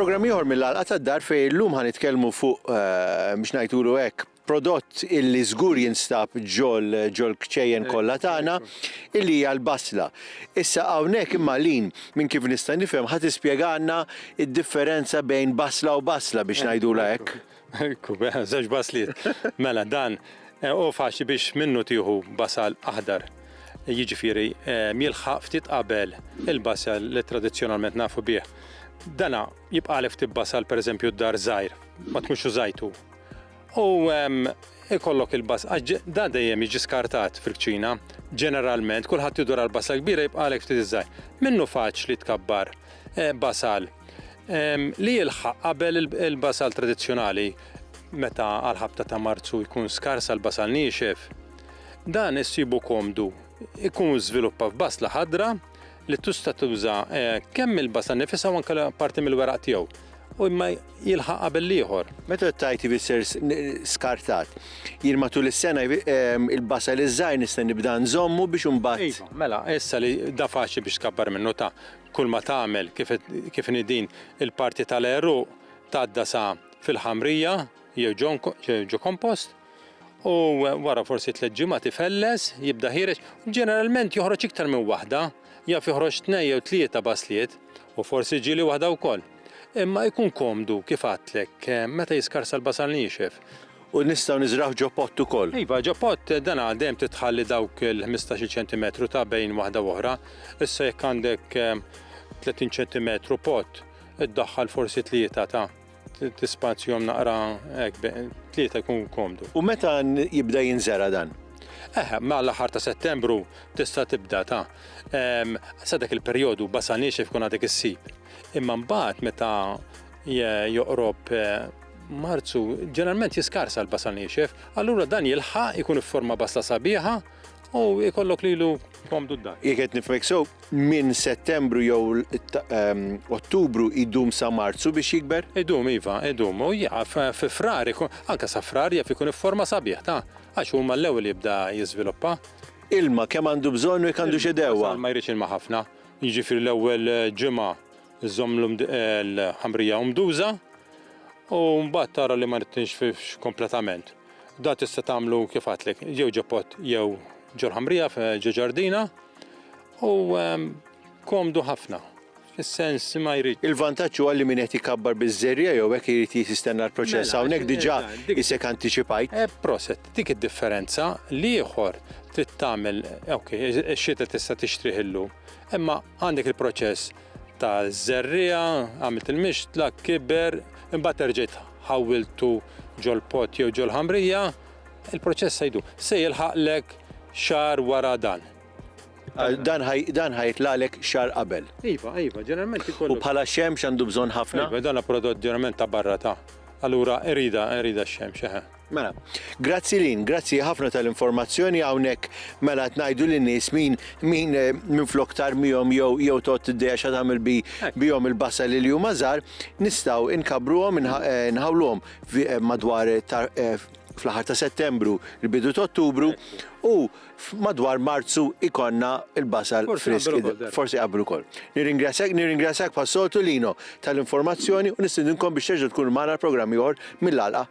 Programm ieħor mill-Għalqa tad-Dar fejn illum ħa nitkellmu fuq biex ngħidulu hekk prodott illi żgur jinstab ġol ġol kċejjen kollha tagħna illi hija l-basla. Issa hawnhekk imma Lin minn kif nista' nifhem ħa tispjegalna d-differenza bejn basla u basla biex ngħidulha hekk. Ekku, żewġ basliet. Mela dan hu faċli biex minnu tieħu basal aħdar. Jiġifieri jilħaq ftit qabel il-basal li tradizzjonalment nafu bih. Dana jibqagħlek ftit basal pereżempju d-dar żgħir, ma tkunx użajtu. U ehm, ikollok il-bas, għax da dejjem jiġi skartat fil-kċina, ġeneralment, kulħadd jidur għal basa kbira jibqalek ftit iżgħar. Minnu faċli tkabbar eh, basal ehm, li jilħaq qabel il-basal tradizzjonali meta għal-ħabta ta' marzu jkun skars għal basal niexef. Dan issibu komdu, ikun żviluppa f'basla ħadra li tista' tuża eh, kemm il-basa nifisha u anke parti mill-weraq tiegħu u imma jilħaq qabel l-ieħor. Meta t-tajt jfisser skartat, jien matul is-sena ehm, il-basa li żgħir nista' nibda nżommu biex imbagħad. Iva, mela, issa li da faċli biex tkabbar minnu ta' kull ma tagħmel kif nidin il-parti tal-eru tgħadda sa fil-ħamrija jew ġo kompost, u wara forsi tliet ġimgħat ifelles, jibda ħiereġ, ġeneralment joħroġ iktar minn waħda, jaf joħroġ tnejn jew tlieta basliet, u forsi ġieli waħda wkoll. Imma jkun komdu, kif għadtlek, meta jiskarsa l-basal niexef. U nistgħu niżrgħuh ġo pott ukoll? Iva, ġo pott, dan għal dejjem trid tħalli dawk il-ħmistax-il ċentimetru ta' bejn waħda u oħra. Issa jekk għandek tletin ċentimetru pott, iddaħħal forsi tlieta ta'. Tispazjom naqra hekk tlieta jkun komdu. U meta jibda jinżera dan? Eh, ma l-aħħar ta' settembru tista' tibda ta' sa dak il-perjodu basa niexef kun għadek issib. Imma mbagħad meta joqrob eh, Marzu ġeneralment jiskarsa l-basa niexef, allura dan jilħaq ikun ifforma basla sabiħa U jkollok lilu komdu d-dar. Jek qed nifmek sew, minn Settembru jew ehm, Ottubru idum sa Marzu biex jikber? Idum iva, idum. U jaf fi frar, anke sa frar jaf ikun forma sabiħ ta' għax huma l-ewwel jibda jiżviluppa. Ilma kemm għandu bżonn u jekk għandu xedewa. Ma jridx ilma ħafna. Jiġifieri l-ewwel eh, ġimgħa żommlhom eh, l-ħamrija umduża u mbagħad tara li ma nittinx kompletament. Da tista' tagħmlu kif għadtlek, jew ġo pot jew ġo ħamrija ġo ġardina u ehm, komdu ħafna. Is-sens ma jrid. Il-vantaġġ huwa li min qed ikabbar biż-żerja jew hekk irid jistenna l-proċess mela, hawnhekk diġà isek antiċipajt. Eh, proset, dik id-differenza li ieħor trid tagħmel, ok, ix-xita tista' tixtrih illum, imma għandek il-proċess ta' żerriegħa, għamilt il-mixtla, kiber, imbagħad erġajt ħawwiltu ġol-pott jew ġol-ħamrija, il-proċess se jdum. Se jilħaqlek xahar wara dan. Dan ħa jitlagħlek xahar qabel. Iva, iva, ġeneralment ikollok. U bħala xemx għandu bżonn ħafna? Iva, dan hu prodott ġeneralment ta' barra ta'. Allura irida, irida x-xemx, eħe. Mela, grazzi Lynn, grazzi ħafna tal-informazzjoni hawnhekk mela qed ngħidu lin-nies min min eh, minflok tarmihom jew jew tot id-dejja xa tagħmel bi eh. bihom il-bassa li li huma żgħar, nistgħu nkabruhom eh, nħawluhom madwar fl-aħħar ta' Settembru, il-bidu ta' Ottubru u madwar Marzu ikonna il-basal frisk. Forsi qabru kol. Nirringrazzjak, nirringrazzjak passoltu Lino tal-informazzjoni u nistindinkom biex terġa' tkun magħna programmi oħor mill-alqa